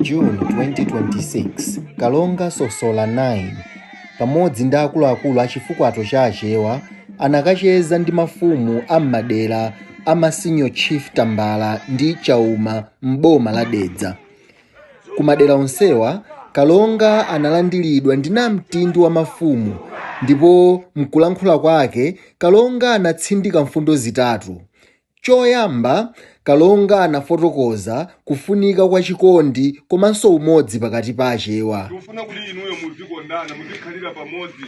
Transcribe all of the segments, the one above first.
June 2026 kalonga sosola 9 pamodzi ndi akuluakulu a chifukwato cha achewa anakacheza ndi mafumu a m'madera a ma senior chief tambala ndi chauma m'boma la dedza Ku madera onsewa, kalonga analandiridwa ndi namtindi wa mafumu ndipo mkulankhula kwake, kalonga anatsindika mfundo zitatu. Choyamba, kalonga anafotokoza kufunika kwa chikondi komanso umodzi pakati pa Achewa. Ndikufuna kuti inuyo muzikondana, muzikhalira pamodzi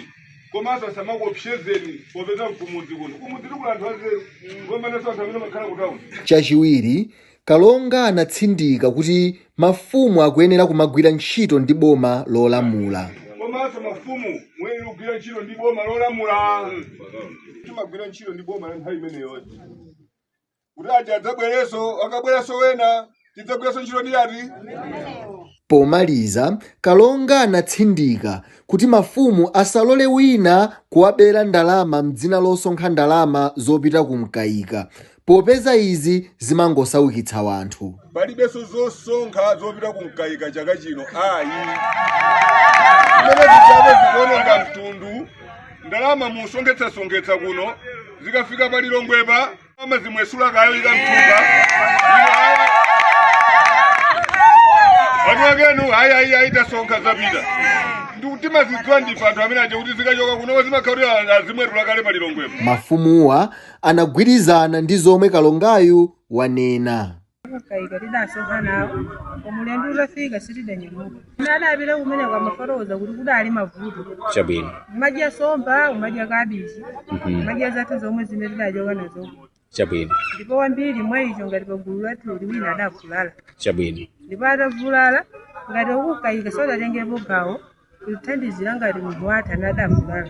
komanso asamakuopsezeni popeza nkumudzi kuno. Kumudzi kuli anthu anzeru kupambananso anthu amene amakhala kutauni. Chachiwiri, Kalonga anatsindika kuti mafumu akuyenera kumagwira ntchito ndi boma lolamula. komanso mafumu muyenera kugwira ntchito ndi boma lolamula timagwira ntchito ndi boma la nthawi imeneyo kuti aja adzabwerenso akabweranso wena tidzagwiranso ntchito ndi atiwo Pomaliza, Kalonga anatsindika kuti mafumu asalole wina kuwabera ndalama m'dzina losonkha ndalama zopita ku Mkaika popeza izi zimangosaukitsa wanthu. Palibenso zosonkha zopita ku mkaika chaka chino ayi. Zimene zija zikuononga mtundu, ndalama musonkhetsasonkhetsa kuno zikafika pa Lilongwepa amazimwetula nkuika mthumba. Ino ayi. Anthu akenu ayi ayi ayi tasonkha zapita. Ndiye timazidziwa ndife anthu amene aja kuti zikachoka kuno zimakhalira azimwetula kale pa Lilongwepa. Mafumuwa anagwirizana ndi zomwe kalongayu wanena. Kaika tidasonkha nawo koma ulendo utafika sitidanyamuka ina adapita kumene amafotokoza kuti kudali mavuto chabwino umadya somba umadya kabichi Mhm. umadya zathu zomwe zimene tidachoka nazo chabwino ndipo wambiri mwa iwo ngati pagulu lathu lino wina adavulala chabwino ndipo atavulala ngati a ku Mkaika sadatengepo gawo kuthandizira ngati munthu wathu adavulala